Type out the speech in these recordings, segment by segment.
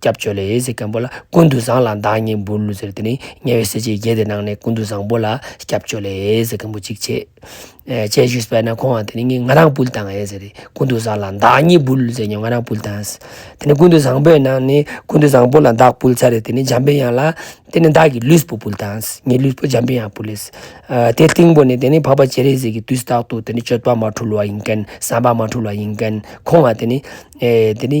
སྐྱབས་བཅོལ་ལས་ཟེར་མཁན་པོ་ལ་ཀུན་ཏུ་བཟང་ལ་མདང་གཉིས་འབུལ་ཟེར་དེ་ནི་དམྱལ་བའི་གསེར་གྱི་རྒྱལ་དེ་ནང་ནས་ཀུན་ཏུ་བཟང་པོ་ལ་སྐྱབས་བཅོལ་ལས་ཟེར་མཁན་པོ་གཅིག་བྱེད། བྱེད་ཞུས་པས་ན་ཁོང་ང་དེ་ནི་ངའི་ང་རང་འབུལ་དང་ཨེ་ཟེར། ཀུན་ཏུ་བཟང་ལ་མདང་གཉིས་འབུལ་ཟེར་ཉོན་ང་རང་འབུལ་དང་ཨེ། དེ་ནི་ཀུན་ཏུ་བཟང་པོས་ནང་ནས་ཀུན་ཏུ་བཟང་པོ་ལ་མདག་འབུལ་ཚར་རེད་དེ་ནི་འཇམ་པའི་དབྱངས་ལ་དེ་ནི་མདག་གི་ལུས་པོ་འབུལ་དང་ཨེ། ངའི་ལུས་པོ་འཇམ་པའི་དབྱངས་འབུལ་ཨེ། དེ་སྟེང་པོ་ནས་དེ་ནི་འཕགས་པ་སྤྱན་རས་གཟིགས་ཀྱི་དུས་རྟག་ཏུ་དེ་ནི་སྤྱོད་པ་མ་འཁྲུལ་བ་ཡིན་མཁན་བསམ་པ་མ་འཁྲུལ་བ་ཡིན་མཁན་ཁོང་ང་དེ་ནི། དེ་ནི།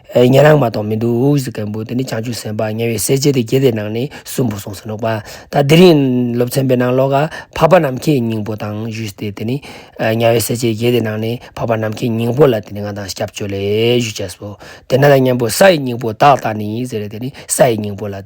ཉན་རང་མ་གཏོགས་མི་འདུག་ཧཱུྃ་ཟེར་མཁན་པོ་དེ་ནི་བྱང་ཆུབ་སེམས་དཔའ་དམྱལ་བའི་གསལ་བྱེད་དེ་རྒྱལ་བསྟན་ནང་ནས་གསུམ་པོ་གསུངས་ཟིན་འདུག་པ་ད་འདི་རིང་སློབ་ཚན་པའི་ནང་ཀློག་ག་འཕགས་པ་ནམ་མཁའི་སྙིང་པོ་དང་བཞུགས་ཏེ་དེ་ནི་དམྱལ་བའི་གསལ་བྱེད་རྒྱལ་བསྟན་ནང་ནས་འཕགས་པ་ནམ་མཁའི་སྙིང་པོ་ལ་དེ་ནི་ང་དང་སྐྱབས་བཅོལ་ལས་བཞུགས་བྱས་སོ་དེ་ནས་ལ་གཉན་པོ་ས་ཡི་སྙིང་པོ་བདག་ལྟ་ནི་ཟེར་རེ་དེ་ནི་ས་ཡི་སྙིང་པོ་ལ།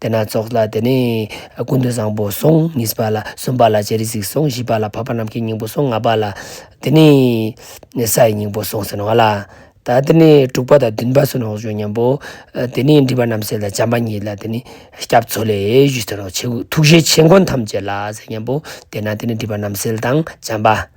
དེ་སྣ་ཚོགས་ལ་དེ་ནས་ཀུན་ཏུ་བཟང་པོ་སོང་གཉིས་པ་ལ་གསུམ་པ་ལ་ཅི་རིགས་གཟིགས་སོང་བཞི་པ་ལ་འཕགས་པ་ནམ་མཁའི་སྙིང་པོ་སོང་ལྔ་པ་ལ་དེ་ནས་ས་ཡི་སྙིང་པོ་སོང་ཟིན་བ་ལ་ད་དེ་ནས་དྲུག་པ་དང་བདུན་པ་སུ་ནོག་བཞུགས་སྙམ་པོ། དེ་ནས་འདྲིས་པ་རྣམས་ཟད་ལ་བྱམས་པ་གཉིས་ལ་དེ་ནས་སྐྱབས་འཚོལ་ལས་བཞུགས་ཟིན་ནོ། ཐུགས་རྗེ་ཆེ་མགོན་ཐམས་ཅད་ལ་ཟེར་སྙམ་པོ། དེ་ན་དེ་ནས་འདྲིས་པ་རྣམས་ཟད་དང་བྱམས་པ།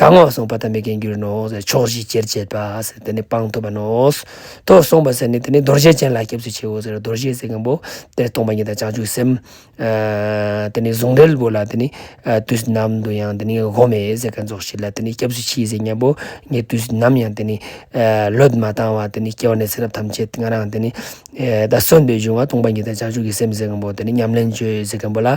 གང་འོག་གསུངས་པ་དམ་པའི་རྒྱན་གྱུར་ནོ། ཕྱོགས་བཞི་ཅེར་བཅད་པ། དེ་ནི་སྤང་ཐུབ་པ་ནོ། དོ་གསུངས་པ། དེ་ནི་རྡོར་བཞི་ཅན་ལ་སྐྱབས་སུ་མཆིའོ། རྡོར་བཞི་ཟེར་མཁན་པོ། དེར་སྟོང་པ་ཉིད་དང་བྱང་ཆུབ་སེམས། དེ་ནི་གཟུངས་འགྲེལ་པོ་ལ། དེ་ནི་དུས་ནམ་དུ་ཡང། དེ་ནི་སྒོམ་མེད་ཟེར་མཁན་རྫོགས་བྱེད་ལ། དེ་ནི་སྐྱབས་སུ་མཆིའོ་ཟེར་མཁན་པོ། ངས་དུས་ནམ་ཡང། དེ་ནི་བློས་མ་བཏང་བ། དེ་ནི་སྐྱེ་བ་ནས་ཚེ་རབས་ཐམས་ཅད་ང་རང། དེ་ནི་ད་གཟོད་འདོད་འབྱུང་བ། སྟོང་པ་ཉིད་དང་བྱང་ཆུབ་ཀྱི་སེམས་ཟེར་མཁན་པོ། དེ་ནི་ཉམས་ལེན་བཅོས་ཟེར་མཁན་པོ་ལ།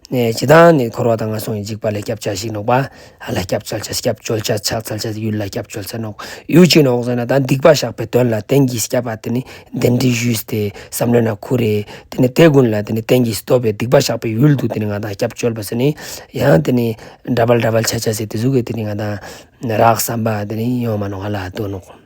ནས་ཇི་ལྟར་ནི་འཁོར་བ་དང་ངན་སོང་གི་འཇིགས་པ་ལས་སྐྱབས་བྱ་ཞིག་ནོག། པ་ལ་སྐྱབས་བྱ་ཕྱག་སྐྱབས་བཅོལ་བྱ་ཕྱག་འཚལ་བྱ་ཡུལ་ལ་སྐྱབས་བཅོལ་བྱ་ནོག། ཡུལ་གཅིག་ནོག་ཟེར་ན་ད་སྡིག་པ་བཤགས་པའི་དོན་ལ་བསྟན་གྱིས་སྐྱབས་པ་དེ་ནི་བདེན་བྲི་ཞུས་ཏེ་བསམ་ལོས་ན་ཁུ་རེ། དེ་ནི་དེ་ཀུན་ལ་དེ་ནི་བསྟན་གྱིས་བསྟོད་པའི་སྡིག་པ་བཤགས་པའི་ཡུལ་དུ་དེ་ནི་ང་དང་སྐྱབས་བཅོལ་བ་ཟེར་ནི། ཡང་དེ་ནི་འདྲ་བལ་འདྲ་བལ་བྱ་བྱ་ཟེར་དེ་གཟུགས་ཀྱི་དེ་ནི་ང་དང། རགས་བསམ་པ་དེ་ནི་ཡོང་མ་ནོག་ཨ་ལ་ལྟོས་ནོག།